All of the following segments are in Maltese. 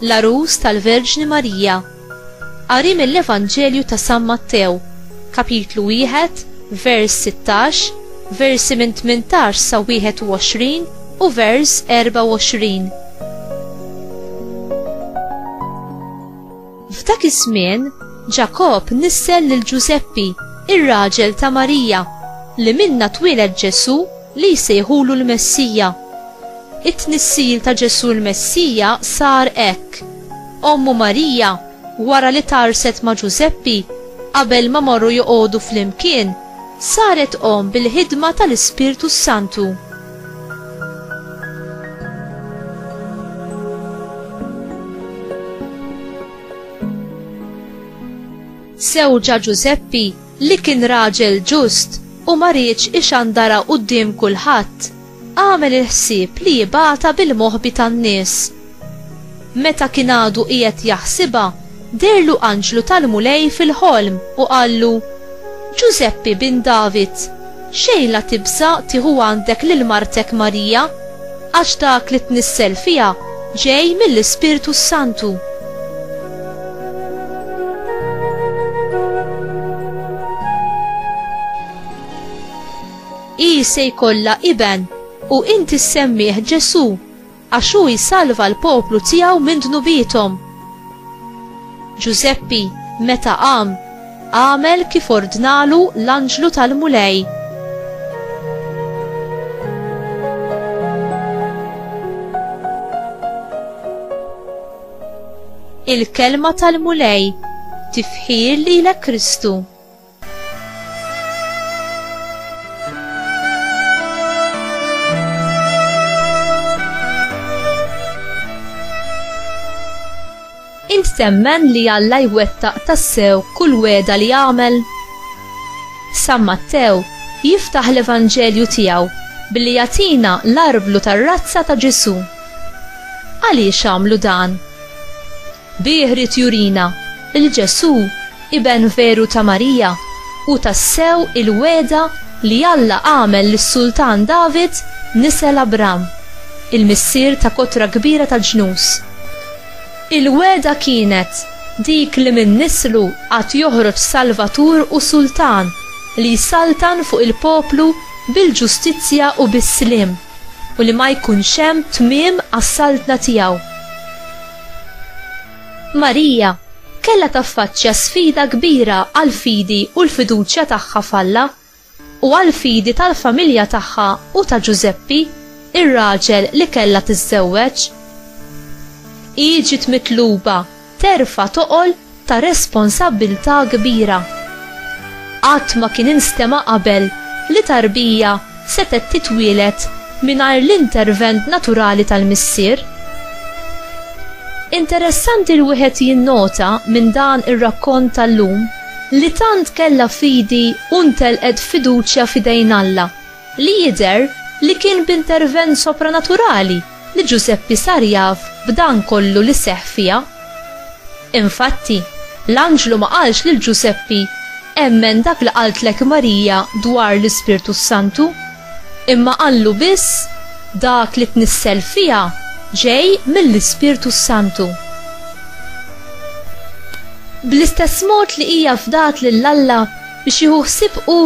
L-Għarus tal-Verġni Marija. Qari mill-Evanġelju ta' San Mattew, kapitlu wieħed, vers sittax, versi minn tmintax sa wieħed u għoxrin u vers erbgħa u għoxrin. F'dak iż-żmien, Ġakobb nissel lil Ġużeppi, ir-raġel ta' Marija, li minnha twieled Ġesù Li jsejħulu l-Messija. It-tnissil ta' Ġesù l-Messija sar hekk. Ommu Marija, wara li tgħarrset ma' Ġużeppi, qabel ma marru joqogħdu flimkien, saret omm bil-ħidma tal-Ispirtu s-Santu. Żewġha Ġużeppi, li kien raġel ġust u ma riedx ixandara quddiem kulħadd, għamel il-ħsieb li jibgħatha bil-moħbi tan-nies. Meta kien għadu qiegħed jaħsibha, deherlu anġlu tal-Mulej fil-ħolm u qallu, Ġużeppi bin David, Xejn la tibsa' tieħu għandek lil martek Marija, għax dak li tnissel fiha ġej mill-Ispirtu s-Santu. Hi se jkollha iben, u inti ssemmih Ġesù. Għax hu jsalva l-poplu tiegħu minn dnubiethom. Ġużeppi, meta qam, għamel kif ordnalu l-anġlu tal-Mulej. Il-Kelma tal-Mulej, Tifħir lilek Kristu! Int temmen li Alla jwettaq tassew kull weda li jagħmel? San Mattew jiftaħ l-Evanġelju tiegħu billi jagħtina l-arblu tar-razza ta' Ġesù. Għaliex għamlu dan? Bi jrid jurina li Ġesù, Iben veru ta' Marija, hu tassew il-wegħda li Alla għamel lis-Sultan David nisel Abram, il-missier ta' kotra kbira ta' ġnus. Il-wegħda kienet dik li minn nislu għad joħroġ Salvatur u Sultan li jsaltan fuq il-poplu bil-ġustizzja u bis-sliem, u li ma jkunx hemm tmiem għas-saltna tiegħu. Marija kellha taffaċċja sfida kbira għall-fidi u l-fiduċja tagħha f'Alla, u għall-fidi tal-familja tagħha u ta' Ġużeppi, ir-raġel li kellha tiżżewweġ. Hi ġiet mitluba terfa' toqol ta' responsabbiltà kbira. Qatt ma kien instema' qabel li tarbija setgħet titwieled mingħajr l-intervent naturali tal-missier. Interessanti li wieħed jinnota minn dan ir-rakkont tal-lum li tant kellha fidi u ntelqet fiduċja f'idejn Alla, li jidher li kien b'intervent sopranaturali, li Ġużeppi sar jaf b'dan kollu li seħħ fiha. Infatti, l-anġlu ma qalx lil Ġużeppi, Emmen dak li qaltlek Marija dwar l-Ispirtu s-Santu, imma qallu biss, Dak li tnissel fiha ġej mill-Ispirtu s-Santu. Bl-istess mod li hija fdat lil Alla biex jieħu ħsieb hu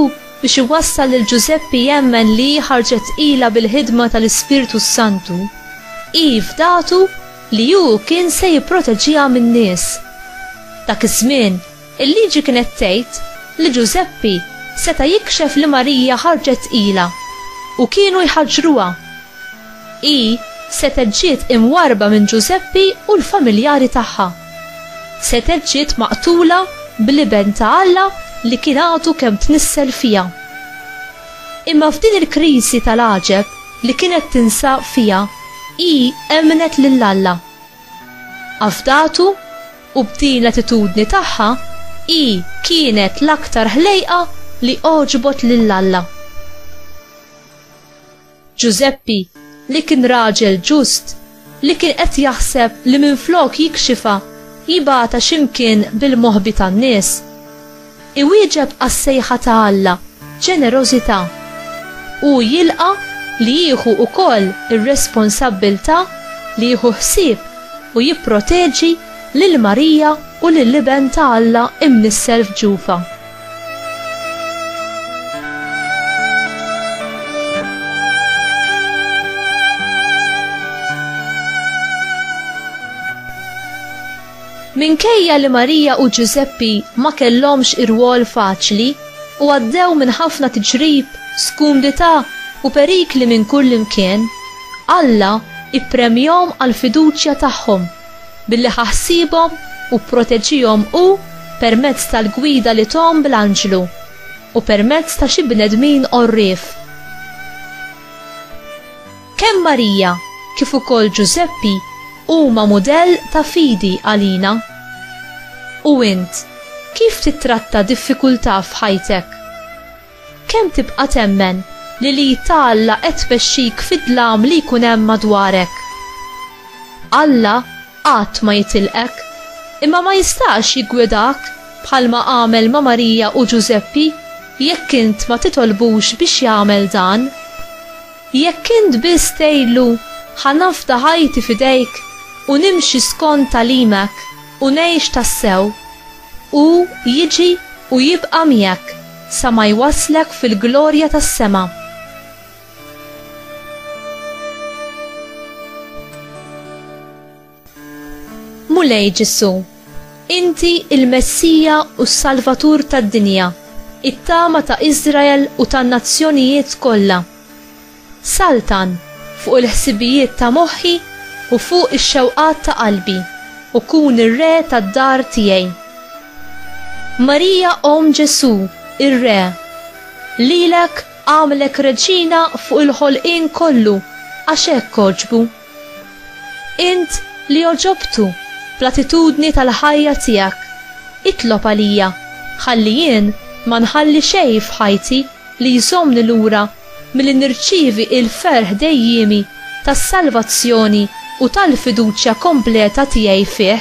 biex iwassal lil Ġużeppi jemmen li hi ħarġet tqila bil-ħidma tal-Ispirtu s-Santu, hi fdatu li hu kien se jipproteġiha min-nies. Dak iż-żmien, il-Liġi kienet tgħid li Ġużeppi seta' jikxef li Marija ħarġet tqila u kienu jħaġġruha. Hi setgħet ġiet imwarrba minn Ġużeppi u l-familjari tagħha. Setgħet ġiet maqtula bl-Iben ta' Alla li kien għadu kemm tnissel fiha. Imma f'din il-kriżi tal-għaġeb li kienet tinsab fiha hi emmnet lil Alla. Afdatu u b'din l-attitudni tagħha hi kienet l-aktar ħlejqa li għoġbot lil Alla. Ġużeppi, li kien raġel ġust, li kien qed jaħseb li minflok jikxifha, jibgħatha xi mkien bil-moħbi tan-nies. Iwieġeb għas-sejħa ta' Alla b'ġenerożità. Hu jilqa' li jieħu wkoll ir-responsabbiltà li jieħu ħsieb u jipproteġi lil Marija u lill-Iben ta' Alla imnissel f'ġufha. Minkejja li Marija u Ġużeppi ma kellhomx irwol faċli u għaddew minn ħafna tiġrib, skumdità u perikli minn kull imkien, Alla ippremjahom għall-fiduċja tagħhom Billi ħa ħsiebhom u pproteġihom hu permezz tal-gwida li thom bl-anġlu u permezz ta' xi bnedmin għorrief. Kemm Marija kif ukoll Ġużeppi huma mudell ta' fidi għalina. U int, kif tittratta diffikultà f'ħajtek? Kemm tibqa' temmen li l-id ta' Alla qed tmexxik fid-dlam li jkun hemm madwarek? Alla qatt ma jitilqek, imma ma jistax jiggwidak bħalma għamel ma' Marija u Ġużeppi jekk int ma titolbux biex jagħmel dan. Jekk int biss tgħidlu, Ħa nafda ħajti f'idejk u nimxi skont tagħlimek u ngħix tassew, Hu jiġi u jibqa' miegħek sa ma jwasslek fil-glorja tas-sema. Mulej Ġesù, inti l-Messija u s-Salvatur tad-dinja, it-tama ta' Iżrael u tan-nazzjonijiet kollha. Saltan fuq il-ħsibijiet ta' moħħi u fuq ix-xewqat ta' qalbi, u kun ir-re tad-dar tiegħi. Marija Omm Ġesù, ir-Re, lilek għamlek reġina fuq il-ħolqien kollu għax hekk għoġbu. Int li għoġobtu bl-attitudni tal-ħajja tiegħek, itlob għalija ħalli jien ma nħalli xejn f'ħajti li jżommni lura milli nirċievi l-ferħ dejjiemi tas-salvazzjoni u tal-fiduċja kompleta tiegħi fih.